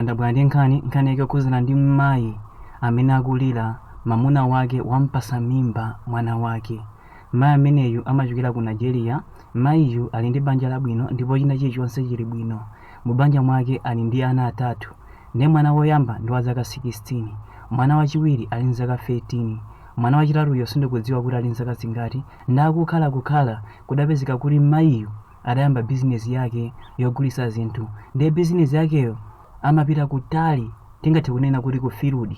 Ndabwera ndi nkhani, nkhani yake yokhudzana ndi mayi amene akulira mamuna wake wampasa mimba mwana wake. Mayi ameneyu amachokera ku Nigeria, mayiyu ali ndi banja labwino ndipo china chilichonse chili bwino. Mu banja mwake ali ndi ana atatu. Ndiye mwana woyamba ndi wa zaka 16, mwana wachiwiri ali ndi zaka 13, mwana wachitatuyo sindikudziwa kuti ali ndi zaka zingati. Ndiye akukhala kukhala kudapezeka kuti mayiyu adayamba bizinesi yake yogulitsa zinthu ndiye bizinesi yakeyo amapita kutali tingathe kunena kuti ku field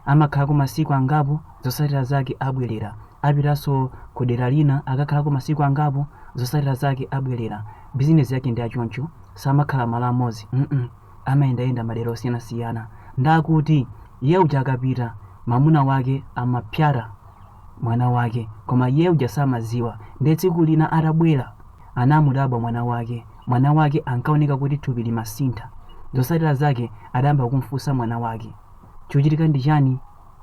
amakhalako masiku angapo zotsatira zake abwerera apitanso ku dera lina akakhalako masiku angapo zotsatira zake abwerera bizinesi yake ndi achoncho samakhala malo amodzi mm amayendayenda madera osiyanasiyana ndakuti iye uja akapita mamuna wake amapyata mwana wake koma iye uja samadziwa ndiye tsiku lina atabwera anamudabwa mwana wake mwana wake ankaoneka kuti thupi limasintha zotsatira zake adayamba kumfunsa mwana wake chikuchitika ndi chani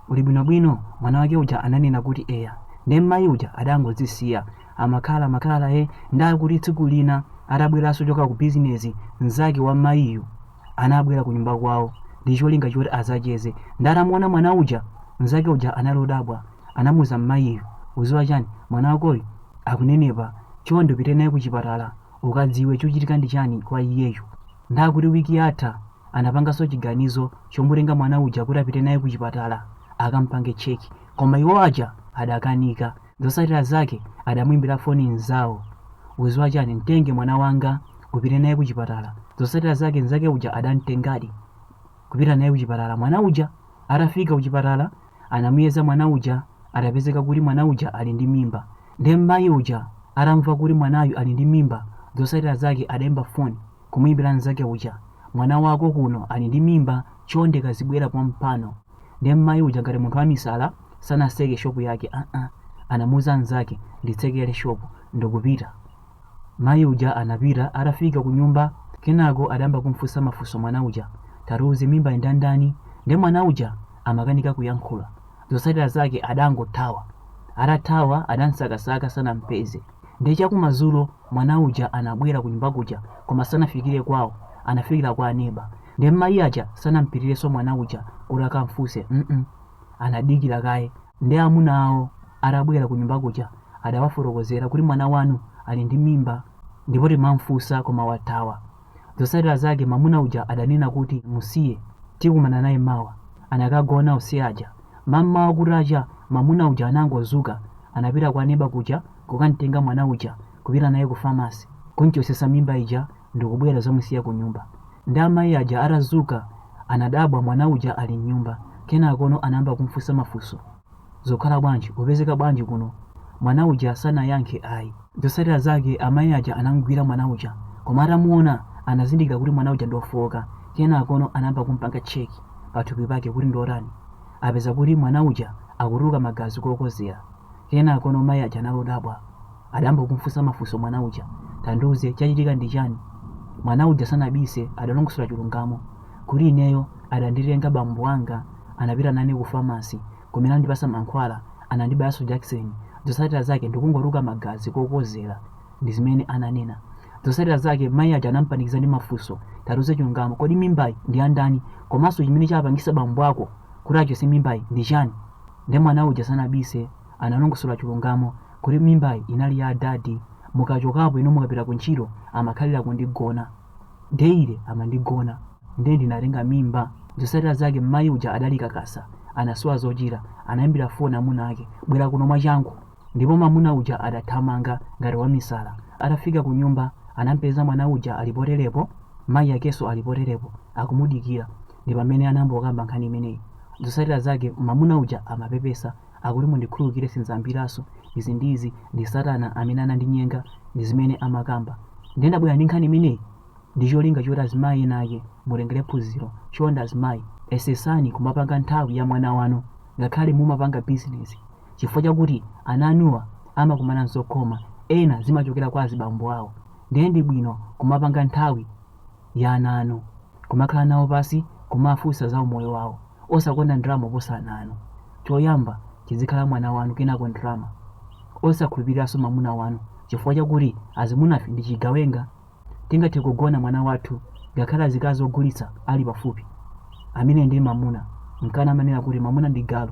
uli bwinobwino mwana wake uja ananena kuti eya ndiye mmayi uja adangodzisiya amakhala amakhala e ndakuti tsiku lina atabweranso choka ku bizinesi mnzake wa mmayiyu anabwera kunyumba kwawo ndi cholinga choti azacheze ndatamuona mwana uja mnzake uja anali odabwa anamuza mmayiyo uziwa chani mwana wakoyu akunenepa chonde upite naye ku chipatala ukadziwe chikuchitika ndi chani kwa iyeyo ndakuti wiki yatha anapanganso chiganizo chomutenga mwana uja kuti apite naye ku chipatala akampange cheki koma iwo aja adakanika Zotsatira zake adamuimbira foni mnzawo. Uziwa chani, mtenge mwana wanga upite naye kuchipatala. Zotsatira zake mnzake uja adamtengadi kupita naye kuchipatala mwana uja. Atafika kuchipatala anamuyeza mwana uja, adapezeka kuti mwana uja ali ndi mimba. Nde mayi uja atamva kuti mwanayu ali ndi mimba, zotsatira zake adaimba foni kumuimbira mnzake uja, mwana wako kuno ali ndi mimba, chonde kazibwera pompano. ndiye mmayi uja ngati munthu wamisala sanaseke shopu yake aa anamuuza mnzake nditsekere shopu ndikupita mayi uja anapita atafika ku nyumba kenako adayamba kumfunsa mafunso mwana uja tatiuze mimba indandani ndiye mwana uja amakanika kuyankhula zotsatira zake adangothawa atathawa adamsakasaka sanampeze ndiye chakumadzulo mwana uja anabwera ku nyumba kuja koma sanafikire kwawo anafikira kwa aneba Nde mayi aja sanampitirenso mwana uja kuti akamfunse mm anadikira kaye nde amuna awo atabwera kunyumba kuja adawafotokozera kuti mwana wanu ali ndi mimba ndipo timamfunsa koma wathawa. Zotsatira zake mamuna uja adanena kuti musiye tikumana naye mawa. Anakagona ose aja. Mammawa kutacha mamuna uja anangozuka anapita kwa neba kuja kukamtenga mwana uja kupita naye ku pharmacy kunchosesa mimba ija ndikubwera kudzamusiya kunyumba ndi amayi aja atazuka anadabwa mwana uja ali mnyumba kenakono anayamba kumfunsa mafunso zokhala bwanji upezeka bwanji kuno mwana uja sanayankhe ayi zotsatira zake amayi aja anamgwira mwana uja koma atamuona anazindikira kuti mwana uja ndiofowoka kenakono anayamba kumpanga cheki pathupi pake kuti ndiotani apeza kuti mwana uja akutuluka magazi kokozera kenakono mayi aja anali odabwa adayamba kumfunsa mafunso mwana uja. Tandiuze, chachitika ndi chani? Mwana uja sanabise, adalongosola chilungamo. Kuti ineyo, adanditenga bambo anga, anapita nane ku famasi, kumene anandipasa mankhwala, anandibayanso jakiseni. Zotsatira zake ndikungotuluka magazi kokozera, ndi zimene ananena. Zotsatira zake, mayi aja anampanikiza ndi mafunso. Tatiuze chilungamo, kodi mimbayi ndi ya ndani? Komanso chimene chapangisa bambo ako kuti achotse mimbayi ndi chani? Nde mwana uja sanabise, analongosola chilungamo kuti mimbayi inali ya adadi mukachokapo inu mukapita ku ntchito amakhalira kundigona daily amandigona ndiye ndinatenga mimba zotsatira zake mmayi uja adali kakasa anasowa zochita anayimbira foni amuna ake bwera kuno mwachangu ndipo mamuna uja adathamanga ngati wamisala atafika ku nyumba anampeza mwana uja ali poteropo mayi akenso ali poteropo akumudikira ndi pamene anayamba kukamba nkhani imeneyi zotsatira zake mamuna uja amapepesa akuti mundikhululukire sindzayambiranso izi ndi izi ndi satana amene anandinyenga ndi zimene amakamba ndiye ndabwera ndi nkhani imeneyi ndi cholinga choti azimayi ena ake mutengere phunziro chonde azimayi yesetsani kumapanga nthawi ya mwana wanu ngakhale mumapanga bizinesi chifukwa chakuti ana anuwa amakumana ndi zokhoma ena zimachokera kwa azibambo awo ndiye ndi bwino kumapanga nthawi ya ana anu, kumakhala nawo pansi kumafunsa za umoyo wawo, osakonda ndalama kuposa ana anu, choyamba chidzikhala mwana wanu kenako ndalama, osakhulupiriranso mamuna wanu chifukwa chakuti azimunafe ndi chigawenga, tingathe kugona mwana wathu ngakhale azikazi ogulitsa ali pafupi, amene ndiye mamuna, nkana amanena kuti mamuna ndi galu.